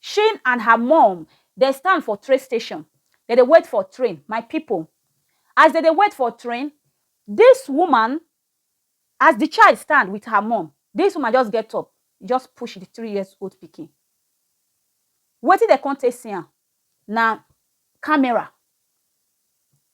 Shane and her mom dem stand for train station, dem dey wait for train, my people as dem dey wait for train this woman as the child stand with her mom this woman just get up e just push the three years old pikin wetin dem come take see am na camera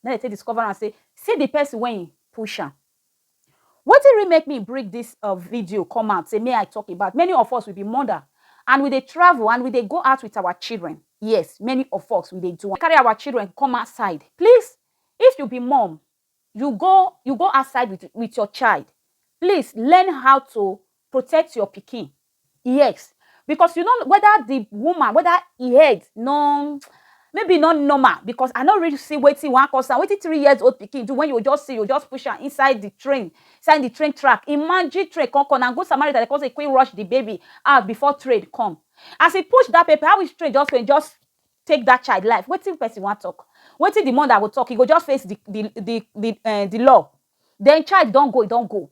na im dem take discover am say see the person wey e push am Wetin really make me bring this um video come out say make I talk about many of us we be mother and we dey travel and we dey go out with our children yes many of us we dey do am carry our children come outside please if you be mom you go you go outside with with your child please learn how to protect your pikin Yes because you no know whether the woman whether e head no maybe e no normal because I no really see wetin wan cause am wetin three years old pikin do when you go just see you go just push am inside the train inside the train track imagine train come come na good Samaritan dem come say quick rush the baby out before train come as e push that baby how which train just came just take that child life wetin person wan talk wetin the mother go talk e go just face the the the the um the law then child don go e don go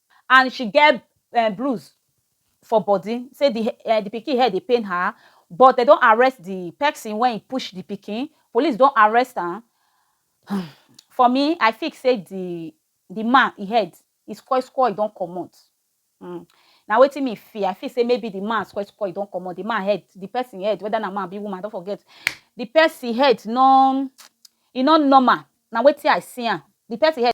and she get um bruise for body, say di um di pikin head dey pain her but dem don arrest di pesin wey push di pikin, police don arrest am um for me I feel say di di man e head e spoil spoil e don comot um na wetin me feel, I feel say maybe di man spoil spoil e don comot, di man head, di pesin head weda na man abi woman I don forget, di pesin head nor e nor normal na wetin I see am, di pesin head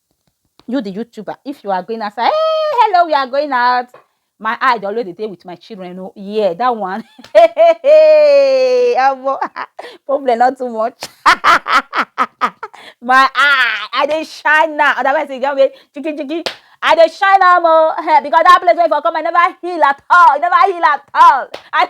you the youtuber if you are going outside hey hello we are going out my eye dey always dey dey with my children o oh. yeah that one omo problem not too much my eye i dey shine now otherwise e get way chiki chiki i dey shine am o oh. eh, because that place wey for come i never heal at all i never heal at all I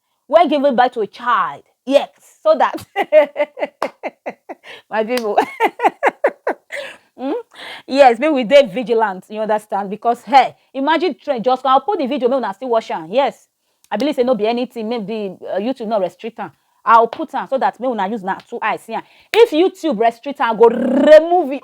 when giving birth to a child. Yes, so that my people. Mm? Yes, make we dey vigilant, you understand? Because hey, imagine trend just come. I'll put the video, make una still watch am. Yes. I believe say no be anything, make the uh, YouTube not restrict am. I'll put am so that make una use na two eyes see am. If YouTube restrict am, go remove it.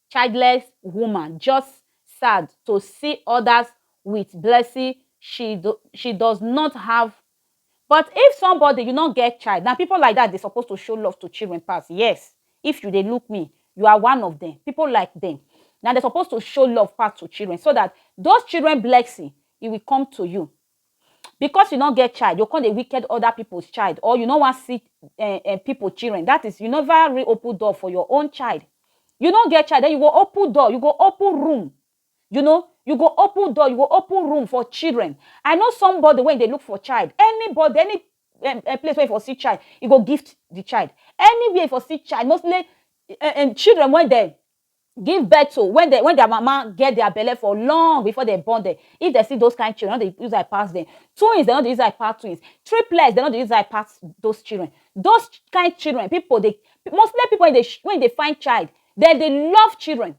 childless woman just sad to see others with blessing she do, she does not have but if somebody you no get child na people like that dey suppose to show love to children pass yes if you dey look me you are one of them people like them na dey suppose to show love pass to children so that those children blessing e will come to you Because you no get child, you come dey wicked other people's child, or you no wan see uh, uh, people children. That is, you never reopen door for your own child. You no get child, then you go open door, you go open room. You know, you go open door, you go open room for children. I know somebody when they look for child, anybody, any um, uh, place where you for see child, you go gift the child. Anywhere you for see child, mostly uh, uh, children when they give birth to when dem when their mama get their belle for long before dem born dem if dem see those kind children dem no dey use eye pass dem twins dem no dey use eye pass twins triplets dem no dey use eye pass those children those kind children people dey mostly people wey dey wey dey find child dem dey love children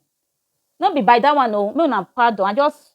no be by that one oo make una pardon I just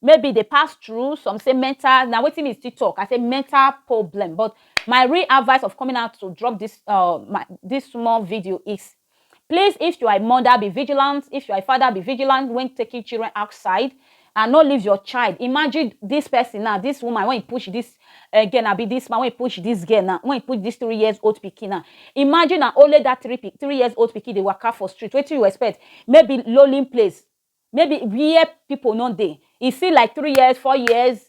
maybe dey pass through some say mental na wetin me still talk i say mental problem but my real advice of coming out to drop this uh my this small video is please if you are a mother be vigilant if you are a father be vigilant when taking children outside and no leave your child imagine this person now this woman when he push this uh, girl now be this man when he push this girl now when he push this three years old pikin now imagine na only that three three years old pikin dey waka for street wetin you expect maybe lonely place maybe where people no dey. E fit like three years, four years,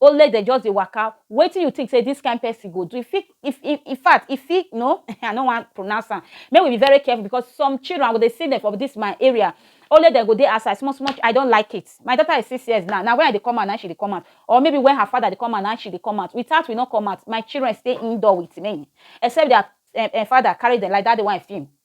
only dem just dey waka. Wetin you think say dis kind person go do? E fit e e in fact, e fit you know um I no wan pronounce am. Make we be very careful because some children, I go dey see dem for dis my area. Only dem go dey outside small small. I don like it. My daughter is six years now. Na when I dey come out na im she dey come out or maybe when her father dey come out na im she dey come out. Without we no come out. My children stay indoor with me except their um um father carry dem like dat day wey I film.